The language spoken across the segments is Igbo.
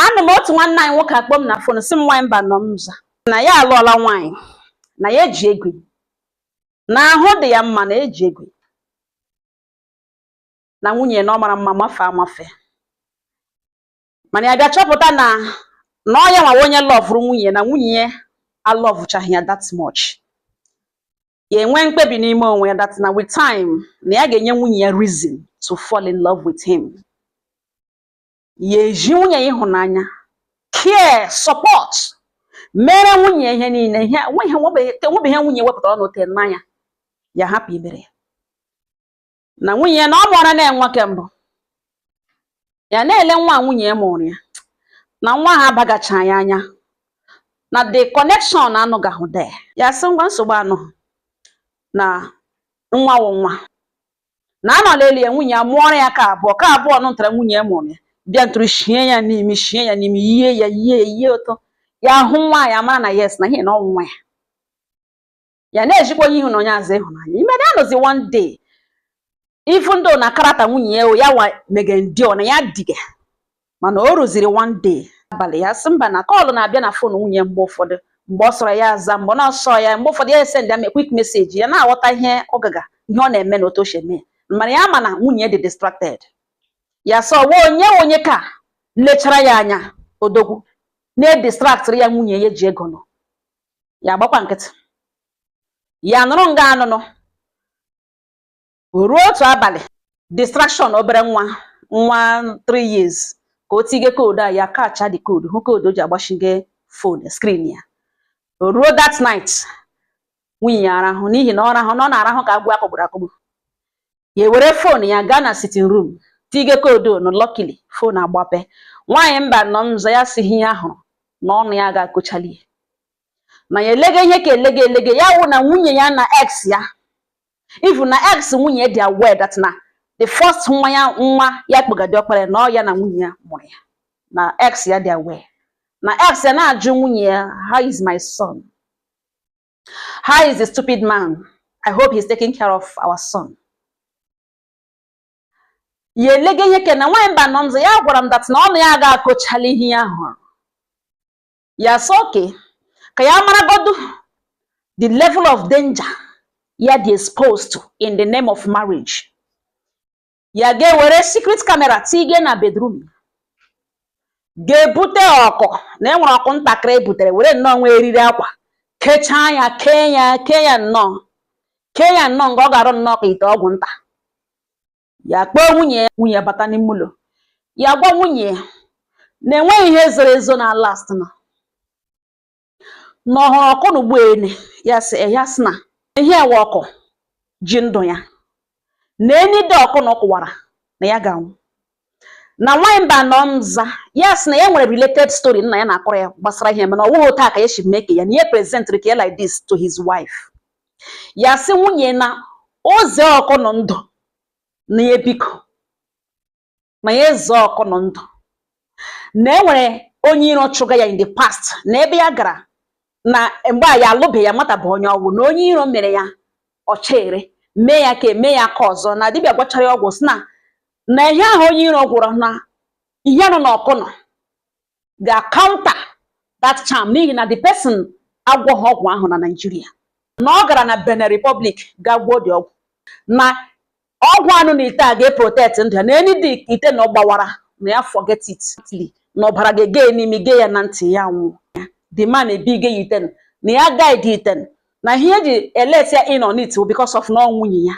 anọ m otu nwanne anyị nwoke akpọ m na fon sị m nwaanyị Mbanọ m za na ya alụọla nwaanyị na ya eji egwu na ahụ dị ya mma na eji egwu na nwunye ya na ọ mara mma mafe amafe mana ya bịa chọpụta na na ọ ya nwa wụ onye lọvụrụ nwunye na nwunye ya alọvụchaghị ya that much ya enwe mkpebi n'ime onwe ya that na with time na ya ga-enye nwunye ya reason to fall in love with him ya ezi nwunye ya ịhụnanya care support mere nwunye ihe niile enwebeghị ihe nwunye wepụtara ọnụ tee n'anya ya hapụ imere ya na nwunye ya na ọ mụọra ya nwa ke mbụ ya na-ele nwa nwunye ya mụrụ ya na nwa ha abagacha ya anya na the connection anọgahụ there ya sị ngwa nsogbu anọghị na nwa wụ nwa na anọ n'elu ya nwunye ya mụọrọ ya ke abụọ ke abụọ nụ ntara nwunye ya mụrụ ya bịa ntụrụ shie ya n'imi shie ya n'imi yie ya yie ya yie ụtọ ya hụ nwa ya mara na yes na ihe na ọ wụ nwa ya ya na-ezikwa onye ihu na onye azụ ịhụnanya ime na anọzi one day even though na character nwunye ya ya wa mege ndị ọ na ya diga mana o ruziri one day abalị ya sị mba na kọlụ na-abịa na fon nwunye mgbe ụfọdụ mgbe ọ sọrọ ya aza mgbe ọ na-asọ ya mgbe ụfọdụ ya esendịa kwik meseji ya na-aghọta ihe ọ gaga ihe ọ na-eme na otu o si eme mana ya ma na nwunye dị distracted ya sị ọ wụ onye onye ka lechara ya anya odogwu na-edistraktịrị ya nwunye ya ji ego nụ ya agbakwa nkịtị ya nọrọ nga ọ nọ nụ ruo otu abalị distraction obere nwa nwa 3 years ka o tige koodu a ya kacha the koodu hụ koodu o ji agbachige fon skrin ya ruo that night nwunye ya arahụ n'ihi na ọ rahụ na ọ na-arahụ ka agwọ a kụgburu akụgbu ya ewere fon ya gaa na sitin rum tige koodu na lọkili fon agbape nwaanyị Mbanọ m za ya sị ihe ya hụrụ na ọnụ ya ga-akọchali na ya elege ihe ka elege elege ya wụrụ na nwunye ya na ex ya even na ex nwunye dị aware that na the first nwa ya nwa ya kpọga diọkpara ya na ọ ya na nwunye ya mụrụ ya na ex ya dị aware na ex ya na-ajụ nwunye ya how is my son how is the stupid man i hope he's taking care of our son ya elege ihe ke na nwaanyị Mbanọ m za ya gwara m that na ọnụ ya ga-akọchali ihe ya hụrụ ya sị okay ka ya maragodu the level of danger ya dị exposed to in the name of marriage ya gaa were secret camera tige na bedroom gaa bute ọkụ na e nwere ọkụ ntakịrị ebutere were nnọọ nwa eriri akwa kechaa ya kee ya kee ya nnọọ kee ya nnọọ nga ọ ga-arụ nnọọ ka ite ọgwụ nta ya kpọọ nwunye ya nwunye ya bata n'ime ụlọ ya gwa nwunye ya na enweghị ihe zoro ezo na last na na ọ hụrụ ọkụ na ugbu ene ya sị ya sị na ihe a wụ ọkụ ji ndụ ya na any day ọkụ nọ kụwara na ya ga-anwụ na nwaanyị mba nọ nza ya sị na ya nwere related story nna ya na-akọrọ ya gbasara ihe mana ọ wụghị otu a ka ya si mee ka ya na ihe presentịrị ka ya like this to his wife ya sị nwunye na o zee ọkụ nọ ndụ na ya biko na ya ezee ọkụ nọ ndụ na e nwere onye iro chụga ya in the past na ebe ya gara na mgbe ya alụbeghị ya mata bụ onye ọgwụ na onye iro mere ya ọchere mee ya ka e mee ya aka ọzọ na dibịa gwọchara ya ọgwụ sị na na ihe ahụ onye iro gwọrọ na ihe nọ n'ọkụ nọ ga counter that charm n'ihi na the person agwọghị ọgwụ ahụ na Nigeria na ọ gara na Benin Republic ga gwọọ the ọgwụ na ọgwụ a nọ n'ite a ga-eprotect ndụ ya na any day ite nọ gbawara na ya forget it na ọbara ga-ege n'imi ge ya na ntị ya nwụọ the man ebige ya ite nọ na ya guide ite nọ na ihe eji elet ya in on it because of na ọ nwunye ya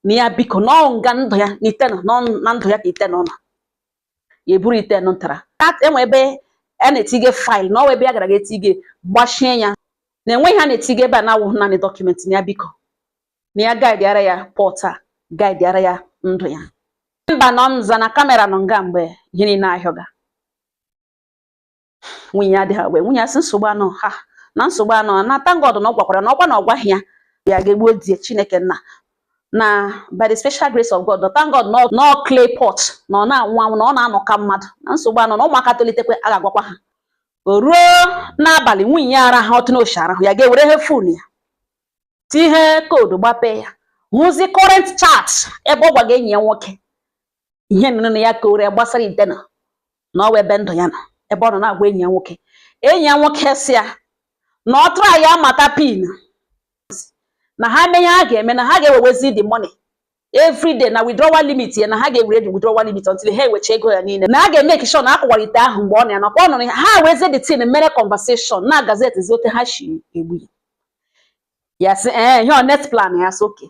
na ya biko na ọ nga ndụ ya nọ ite nọ na ndụ ya ka ite nọ na ya eburu ite nụ ntara e nwe ebe a na-etige file na ọ wụ ebe ya gara ga etige gbachie ya na enweghị ihe a na-etige ebe a na-awụghị naanị document na ya biko na ya guide ara ya pot a guide ara ya ndụ ya mba nọ nza na camera nọ nga mgbe ihe niile ahịọga nwunye ya adịghị agwa nwunye ya sị nsogbu anọ ha na nsogbu anọ na thank God na ọ gwakwara na ọkwa na ọ gwaghị ya ya ga-egbuo di chineke nna na by the special grace of God thank God na ọ clay pot na ọ na-anwụ anwụ na ọ na-anọ ka mmadụ na nsogbu anọ na ụmụaka tolitekwe a ga-agwakwa ha o ruo n'abalị nwunye ya araha otu n'o shi araha ya ga-ewere ihe phone ya tihe code gbapee ya hụzi current chat ebe ọ gwaga enyi ya nwoke ihe nụnụ na ya kọọrọ ya gbasara ite nọ na ọ wụ ebe ndụ ya nọ ebe ọ nọ na-agwa enyi ya nwoke enyi ya nwoke sị ya na ọ try ya mata pin na ha mee ihe ha ga-eme na ha ga-ewewezi the money every day na withdrawal limit ya na ha ga-ewere the withdrawal limit until ha ewecha ego ya niile na ha ga-emake sure na akụwara ite ahụ mgbe ọ na ya nakwa ọ nụrụ ya ha wezie the thing mere conversation na gazette zi otu ha shi egbu ya ya sị ee ihe ọ next plan ya sị okay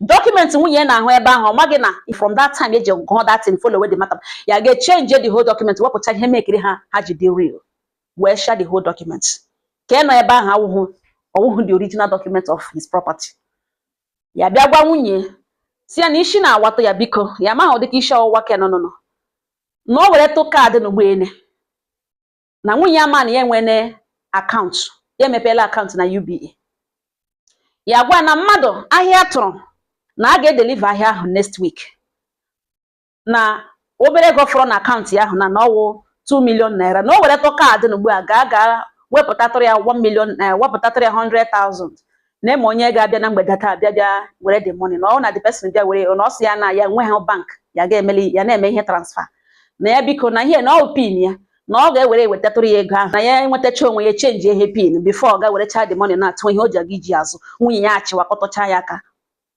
document nwunye ya na-ahụ ebe ahụ ọ maghị na from that time eji gụọ that thing follow the matter ya ga-echange the whole document wepụta ihe mekiri ha ha ji dị real wesha the whole document ke nọ ebe ahụ awụhụ ọwụhụ the original document of his property ya bịa gwa nwunye sị ya na isi na-awatụ ya biko ya amaghị ụdịka isi ọwụwa ke nụnụnụ na o weretụ card n'ugbu ene na nwunye ya ma na ya enwene akaụntụ ya emepeela akaụntụ na UBA ya gwa na mmadụ ahịa tụrụ na a ga-edeliva ahịa ahụ next week na obere ego fọrọ na akaụntụ ya ahụ na na ọwụ 2 million naira na o weretụ kaadị na ugbu a gaa gaa wepụtatụrụ ya 1 million naira wepụtatụrụ ya 100,000 na eme onye ga-abịa na mgbede taa bịa bịa were the money na ọ na the person bịa were na ọ sị ya na ya nwe ha bank ya ga-emeli ya na-eme ihe transfer na ya biko na ihe na ọ pin ya na ọ ga-ewere wetatụrụ ya ego ahụ na ya enwetacha onwe ya chenji ihe pin bifo ọ ga werecha the money na-atụ ihe o ji aga iji azụ nwunye ya achịwakọtọcha ya aka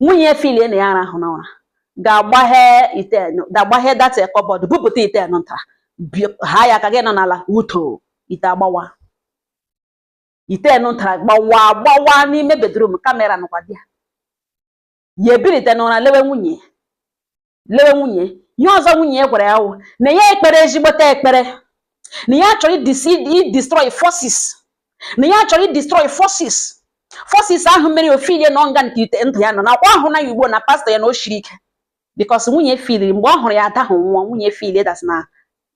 nwunye ya filie na ya arahụ n'ụra ga-agbaghe ga-agbaghe that kọbọdụ bupụta ite nta ha ya aka ga nọ n'ala uto ite agbawa ite nta gbawa gbawa n'ime bedrum kamera nọkwa di ya ya ebirite n'ụra lewe nwunye lewe nwunye ihe ọzọ nwunye ya gwara ya wụ na ya ekpere ezigbote ekpere na ya chọrọ idestroy forces na ya chọrọ idestroy forces forces ahụ mere o filie na ọ nga nke ite ndụ ya nọ nakwa ahụ na ya ugbo na pastọ ya na o shiri ike bikos nwunye filiri mgbe ọ hụrụ ya adahụ nwa nwunye filie dat na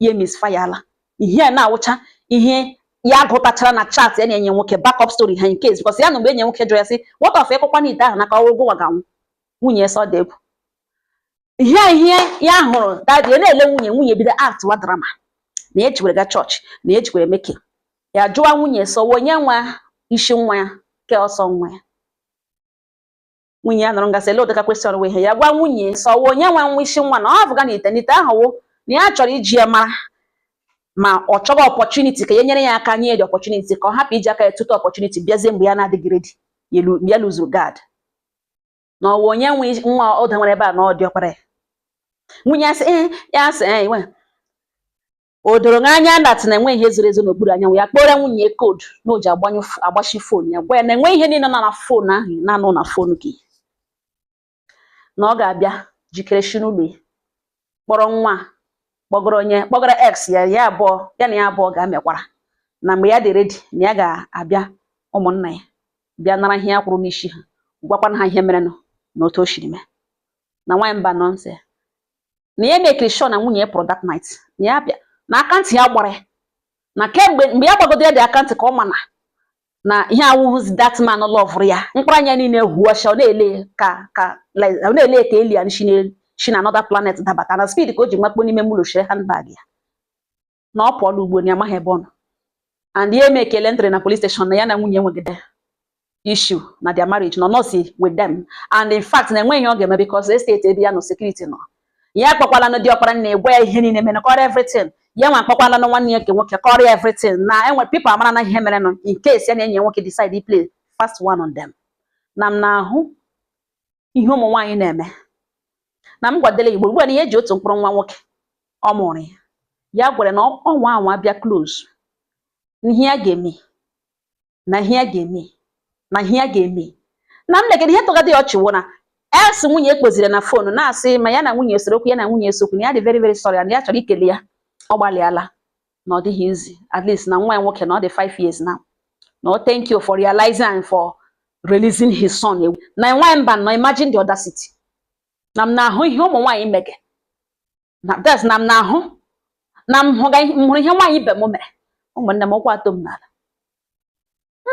ya misfayala ihe a na-awụcha ihe ya gụtachara na chat ya na enyi nwoke backup story ha in case bikos ya na mgbe enyi nwoke jụrụ ya sị what of ịkụkwa na ite ahụ na ka ọrụ gụwa ga-anwụ nwunye sọ debụ ihe ihe ya hụrụ dat ya na-ele nwunye nwunye bido aktịwa drama na ya jikwere ga chọọchị na ya jikwere meke ya jụwa nwunye sị ọwụ onye nwe isi nwa ya ke ọsọ nwa ya nwunye ya nọrọ ngasị ele ụdịka kwesịrị nwe ihe ya gwa nwunye sị ọwụ onye nwe nwa isi nwa na ọ bụga na ite na ite ahụ wụ na ya chọrọ iji ya mara ma ọ chọghị ọpọchuniti ka ya nyere ya aka nye the ọpọchuniti ka ọ hapụ iji aka ya tụta ọpọchuniti bịazie mgbe ya na-adịghị redi ya luzuru gad na ọwụ onye nwe isi- nwa ụda nwere ebe a na ọ dị ọkpara ya nwunye ya sị "Eh, ya sị "Eh, iwe." o doro gị anya dat na enweghị ihe zoro ezo n'okpuru anyanwụ ya kpọrọ nwunye ya koodu na o ji agbanyụ f- agbachi fon ya gwa ya na enwe ihe niile nọ na fon ahụ na-anọ na fon gị na ọ ga-abịa jikere shi n'ụlọ ya kpọrọ nwa kpọgoro onye kpọgara ex ya ya abụọ ya na ya abụọ ga-amekwara na mgbe ya dị redi na ya ga-abịa ụmụnna ya bịa nara ihe ya kwụrụ n'isi ha gwakwana ha ihe merenụ na otu o shiri mee na nwaanyị Mbanọ sị na ya mekiri sure na nwunye ya pụrụ that night na ya bịa na akantị ya gbara ya na kemgbe mgbe ya gbagodo ya dị akantị ka ọ ma na na ihe awụghịzi that man lọvụrụ ya mkpụrụ anya niile huọcha ọ na-ele ka alien shi na another planet dabata na speed ka o ji makpo n'ime ụlọ shire handbag ya na ọ pụọla ugbo na ya amaghị ebe ọ nọ and ya emekela entry na police station na ya na nwunye nwegide issue na their marriage nọ nọsi with them and in fact na enweghị ihe ọ ga-eme because estate ebe ya nọ security nọ ya akpọkwalanụ di ọkpara na-egwa ya ihe niile mere kọrọ everything ya nwa akpọkwalanụ nwanne ya nke nwoke kọrọ ya everything na enwe people amara na ihe merenụ in case ya na enyi ya nwoke decide to play fast one on them na m na-ahụ ihe ụmụ nwaanyị na-eme na m gwadele igbo ugbu a na ihe eji otu mkpụrụ nwa nwoke ọ mụrụ ya ya gwere na ọnwa anwa bịa close ihe ya ga-eme na ihe ya ga-eme na ihe ya ga-eme na nne gị ihe tọgadị ya ọchị wụ na ex nwunye ya kpọziri na phone na-asị ma ya na nwunye esero okwu ya na nwunye ese okwu na ya dị very very sorry and ya chọrọ ikele ya ọ gbalịala na ọ dịghị easy at least na nwa ya nwoke na ọ dị 5 years now no thank you for realizing and for releasing his son ewu na nwa mba nọ imagine the audacity na m na-ahụ ihe ụmụ nwaanyị mege nowadays na m na-ahụ na m hụga ihe- m hụrụ ihe nwaanyị ibe m mere ụmụnne m ụkwụ atọ m n'ala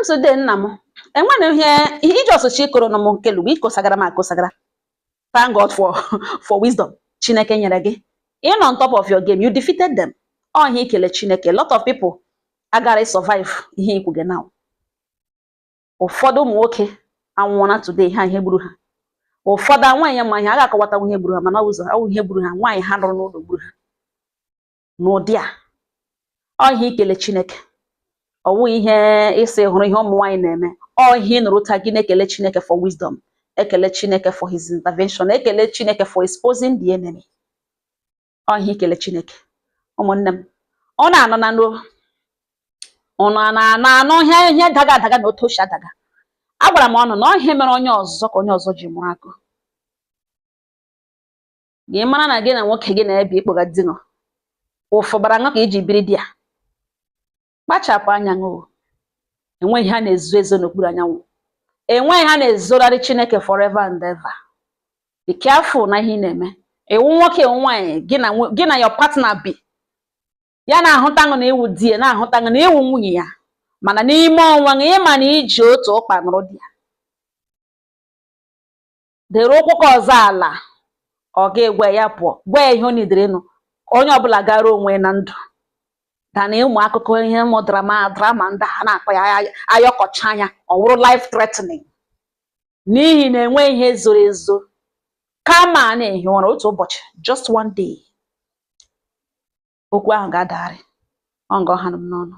nsode nna m enwere ihe ihe iji ọsụchi ịkụrụ nụ m nke lugbo ikosagara m akosagara thank god for for wisdom chineke nyere gị ị nọ on top of your game you defeated them ọ ihe ikele chineke a lot of people agaghị survive ihe i kwuge now ụfọdụ ụmụ nwoke anwụọla today ha ihe gburu ha ụfọdụ nwaanyị ya ma ihe a ga-akọwatanwu ihe gburu ha mana ụzọ awụ ihe gburu ha nwaanyị ha nụrụ n'ụlọ gburu ha n'ụdị a ọ ihe ikele Chineke ọ wụghị ihe ịsị hụrụ ihe ụmụ nwaanyị na-eme ọ ihe ị nụrụ taa gị na-ekele Chineke for wisdom ekele Chineke for his intervention ekele Chineke for exposing the enemy ọ ihe ikele Chineke ụmụnne m ụnụ na-anụ na nro ụnụ a na-anụ anụ ihe ihe daga adaga na otu o si adaga agwara m ụnụ na ọ ihe mere onye ọzọ ka onye ọzọ ji mụrụ akọ gị mara na gị na nwoke gị na-ebi ị kpọga di ṅụ ụfụ bara ṅụ ka i ji biri there kpachapụ anya ṅụ enweghị ihe a na-ezo ezo n'okpuru anyanwụ enweghị ihe a na-ezorarị Chineke forever and ever be careful na ihe ị na-eme ị wụ nwoke ị wụ nwaanyị gị na your partner bi ya na-ahụta ṅụ na ị wụ di ya na-ahụta ṅụ na ị wụ nwunye ya mana n'ime onwe ṅụ ị ma na i ji otu ụkpa nọrọ there dere ụkwụ ke ọzọ ala ọ ga-egwe ya pụọ gwa ya ihe ọ needere ịnụ onye ọbụla gara onwe na ndụ than ụmụ akụkọ ihe ụmụ drama drama ndị ha na-akpa ya ay- ayọkọcha anya ọ wụrụ life threatening n'ihi na enwe ihe zoro ezo kama a na-ehi ụra otu ụbọchị just one day okwu ahụ ga-adagharị ọ nga ọ ha nụ m n'ọnụ